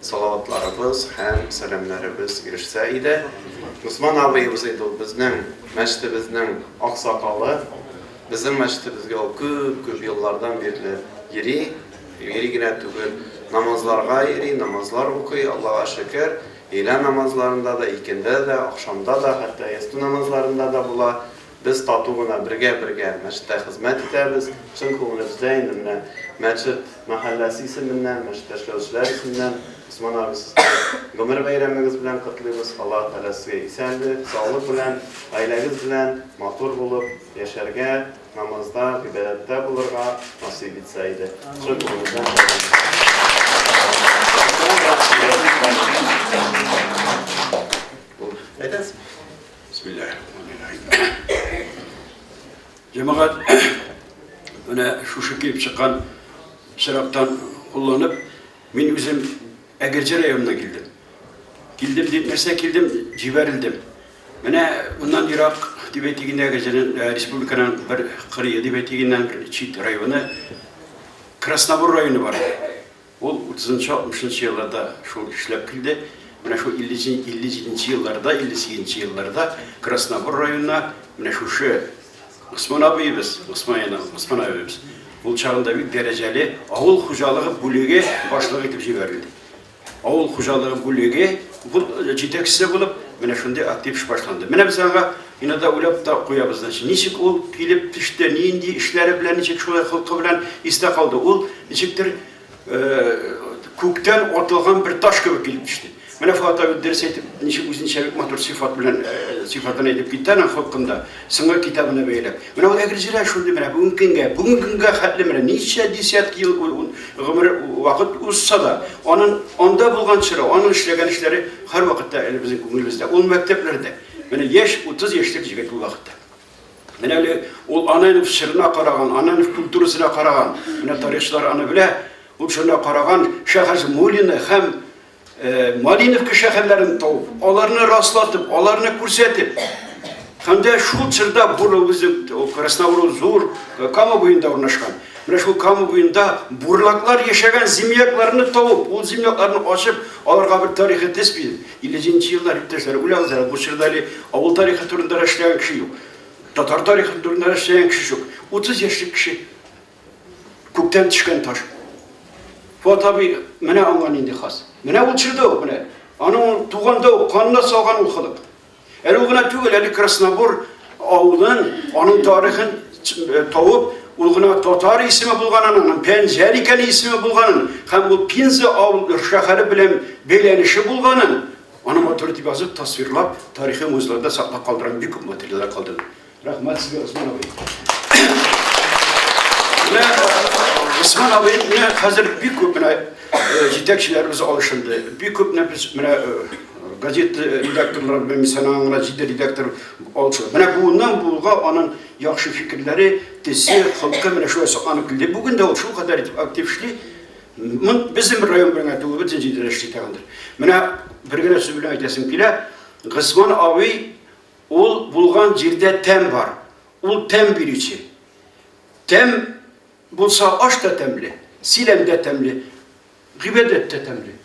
Салаватларыбыз һәм сәламнәребез ирешсә иде. Госман абыебыз иде ул безнең мәчетебезнең аксакалы. Безнең мәчетебезгә ул күп-күп еллардан бирле йөри. Йөри генә түгел, намазларга йөри, намазлар укый, Аллага шөкер. Өйлә намазларында да, икендә дә, ахшамда да, хәтта ястү намазларында да була. Без тату гына бергә-бергә мәчеттә хезмәт итәбез. Чын күңелебездә инде менә мәчет мәхәлләсе исеменнән, мәчеттә эшләүчеләр исеменнән Госман абый сезне гомер бәйрәмегез белән котлыйбыз. Аллаһы Тәгалә сезгә исәнле, саулык белән, гаиләгез белән матур булып яшәргә, намазда, гыйбадәттә булырга насыйп итсә иде. Чын күңелебездән теләк итәбез. Әйтәсез. Җәмәгать менә шушы килеп чыккан чираттан кулланып, мин үзем Әгерҗе районына килдем. Килдем дип нәрсә килдем, җибәрелдем. Менә моннан ерак дип әйтегенә Әгерҗенең э, республиканың бер кырые дип әйтегеннән бер чит районы Краснобур районы бар. Ул утызынчы-алтмышынчы елларда шул эшләп килде. Менә шул илле җи, илле җиденче елларда, илле сигезенче елларда Краснобур районына менә шушы Госман абыебыз, Госман яна, Госман абыебыз ул чагында бик дәрәҗәле авыл хуҗалыгы бүлеге башлыгы итеп җибәрелде. Авыл хуҗалыгы бүлеге бу җитәкчесе булып, менә шундый актив эш башланды. Менә без аңа Ина да уйлап та куябыз, значит, ничек ул килеп төште, нинди эшләре белән, ничек шулай холкы белән истә калды. Ул ничектер күктән атылган бер таш кебек килеп төште. Менә Фуат абый дөрес әйтеп, ничек үзенчә бик матур сифат белән сифатын әйтеп китте аның холкында, сыңгы китабына бәйләп. Менә ул Әгерҗеләр шундый менә бүгенге көнгә, бүгенге көнгә хәтле менә ничә десятки ел гомер вакыт узса да, аның анда булган чоры, аның эшләгән эшләре һәрвакытта әле безнең күңелебездә. Ул мәктәпләрдә Менә яшь, 30 яшьлек җегет бу вакытта. Менә әле ул аның чырына караган, аның культурасына караган. Менә тарихчылар аны белә. Ул шуна караган шәһәр Мулина һәм э, Малиновка шәһәрләрен тауып, аларны раслатып, аларны күрсәтеп, һәм дә шул чорда Бурлы үзек, ул Краснобурлы зур э, Кама буенда урнашкан. Менә шул Кама буенда бурлаклар яшәгән землякларны тауып, ул землякларны ачып, аларга бер тарихи тест биреп, Илле җиденче еллар, иптәшләр, уйлагыз әле, бу чорда әле авыл тарихы турында да эшләгән кеше юк. Татар тарихы турында да эшләгән кеше юк. Утыз яшьлек кеше. Күктән төшкән таш. Фуат абый менә аңа нинди хас. Менә ул чорда ук, менә. Аның туганда ук, канына салган ул халык. Әле ул гына түгел, әле Краснобур авылын, аның тарихын тавып, ул гына татар исеме булганын, аның Пәнҗәр икәне исеме булганын, һәм ул Пенза авылы шәһәре белән бәйләнеше булганын, аны матур итеп язып, тасвирлап, тарихи музейларда саклап калдырган бик күп материаллар калдырды. Рәхмәт сезгә, Госман абый. Госман абый, менә хәзер бик күп менә э, җитәкчеләребез алышынды. Бик күп менә без менә э, газет э, редакторлары белән мисалга гына җиде редактор алышынды. Менә буыннан буынга аның яхшы фикерләре, тесе, холкы менә шулай сакланып килде. Бүген дә ул шул кадәр итеп актив эшли. Безнең район белән түгел, бөтен җирдә эшли тагындыр. Менә бер генә сүз белән әйтәсем килә. Госман абый Ул булган җирдә тәм бар, ул тәм бирүче. Тәм булса, аш та тәмле, силәм дә тәмле, гыйбадәт тә тәмле.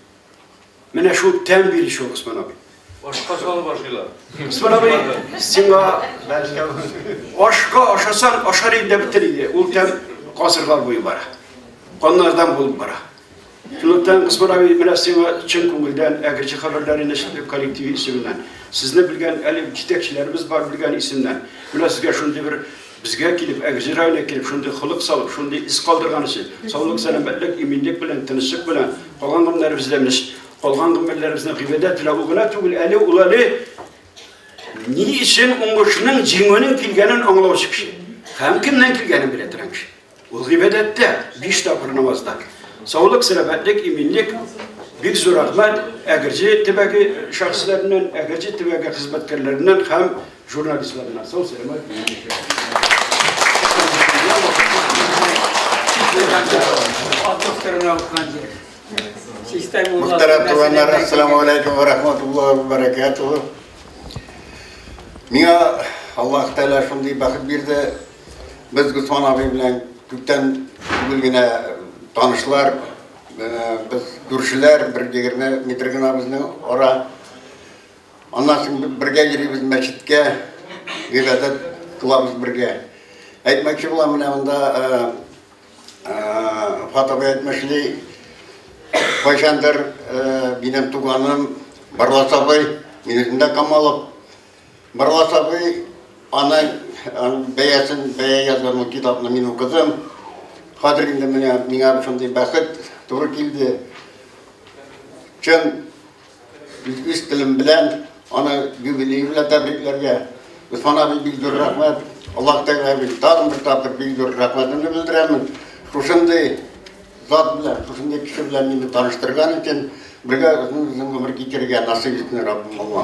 Менә шул тәм бирүче ул Госман абый. Ашка салып ашыйлар. Госман абый, сиңа ашка ашасаң, ашар инде бетер иде. Ул тәм гасырлар буе бара. Каннардан булып бара. Шунлыктан, Госман абый, менә сиңа чын күңелдән Әгерҗе хәбәрләре нәшрият коллективы исеменнән, сезне белгән әле җитәкчеләребез бар белгән исемнән, менә сезгә шундый бер безгә килеп, Әгерҗе районына килеп, шундый холык салып, шундый эз калдырган өчен, саулык, сәламәтлек, иминлек белән, тынычлык белән, калган гомерләребездә менә калган гомерләребездә гыйбадәт белән ул гына түгел, әле ул әле ни өчен уңышның, җиңүнең килгәнен аңлаучы кеше. Һәм кемнән килгәнен белә торган кеше. Ул гыйбадәттә, биш тапкыр намазда. Саулык, сәламәтлек, иминлек, бик зур рәхмәт Әгерҗе төбәге шәхесләреннән, Әгерҗе төбәге хезмәткәрләреннән һәм журналистларына. Сау сәламәт Мөхтәрәм туганнар, ассаламу алейкум ва рахматуллахи ва баракатуху. Миңа Аллаһ Тәгалә шундый бәхет бирде, Без Госман абый белән күптән түгел генә танышлар. Без күршеләр, бер егерме метр генә безнең ара. Аннан соң бергә йөрибез мәчеткә, гыйбадәт кылабыз бергә. Әйтмәкче булам, менә монда Фатабы әйтмешли, кайчандыр минем туганым Барлас абый, минем дә Камалов. Барлас абый аның бәясен, бәя язган ул китапны мин укыдым. Хәзер инде менә миңа шундый бәхет туры килде. Чын үз телем белән аны юбилей белән тәбрикләргә. Усман абый бик зур рәхмәт. Аллаһ Тәгалә бик тагын бер тапкыр бик зур рәхмәтемне белдерәмен. Шушындый Зат белән, шушындый кеше белән мине таныштырган өчен, бергә озын-озын гомер кичерергә насыйп итсен Раббым аңа.